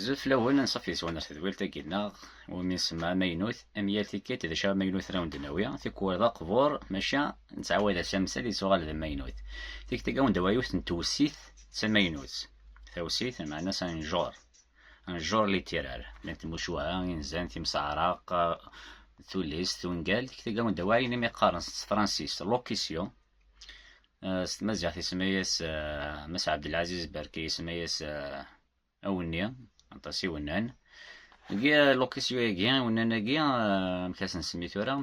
Zut lawan ansaf yeswan ar tedwilt-agi nneɣ, umi nsemma amaynut, am yal tikkelt d acu amaynut ara wen-d-nawi, tikwal d aqbur, maca nettɛawad-as amsal yettuɣal d amaynut. Tikkelt-agi ad wen-d-awiɣ yiwet n tewsit d tamaynut, tawsit meɛna s un genre, un genre littéraire, llant tmucuha, inzan, timseɛraq, tullist, ungal, tikkelt-agi ad wen-d-awiɣ ayen umi qqaren s tefransist locution, s tmaziɣt isemma-yas Mass Abdelaziz Berki isemma-yas Awenni, aṭas iwennan. Degi lokisyu-agi, iwennan-agi, amek ad sen-semmi tura?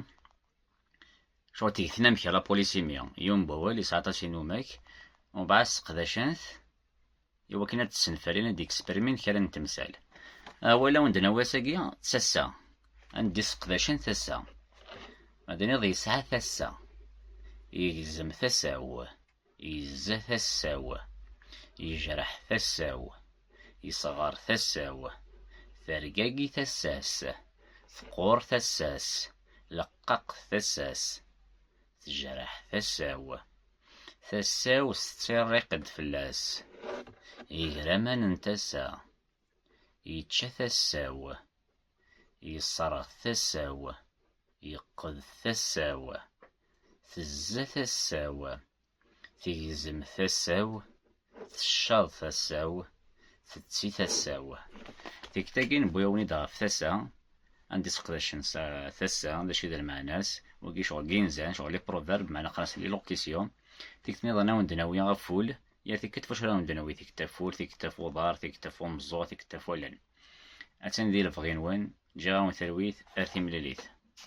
Cɣel tigtin amek la polisimi, yiwen n wawal yesɛa aṭas inumak, umbeɛd seqdacen-t i wakken ad d-ssenfalin, ad d-eksprimin kra n temsal. Awal awen d-nawi ass-agi d tassa, ad d-seqdacen tassa. Ma d-nniḍ yesɛa tassa, yegzem tasa-w. Yezza tasa-w, yejreḥ tasa-w, yesɣer tasa-w, tergagi tasa-s, teqqur tasa-s, leqqaq tasa-s, tejreḥ tasa-w. Tasa-w tettirriq-d fell-as, igraman n tasa, yečča tasa-w. Yesserɣ tasa-w, yeqqed tasa-w, tezza tasa-w, tegzem tasa-w, teccaḍ tasa-w, tetti tasa-w. Tikta-agi newwi-awen-id ɣef tasa, anda i seqdacen s tasa, d acu i d lmeɛna-s, wagi ccɣel n yinzan, ccɣel i proverb, meɛna qqaren-as lilocution. Tikta niḍen ad wen-d-nawi ɣef ul, yal tikkelt f wacu ara wen-d-nawi, tikkelt ɣef ul, tikkelt ɣef uḍar, tikkelt ɣef umeẓẓuɣ, tikkelt ɣef wallen. Attan di lebɣi-nwen, ǧǧiɣ-awen talwit ar timlilit.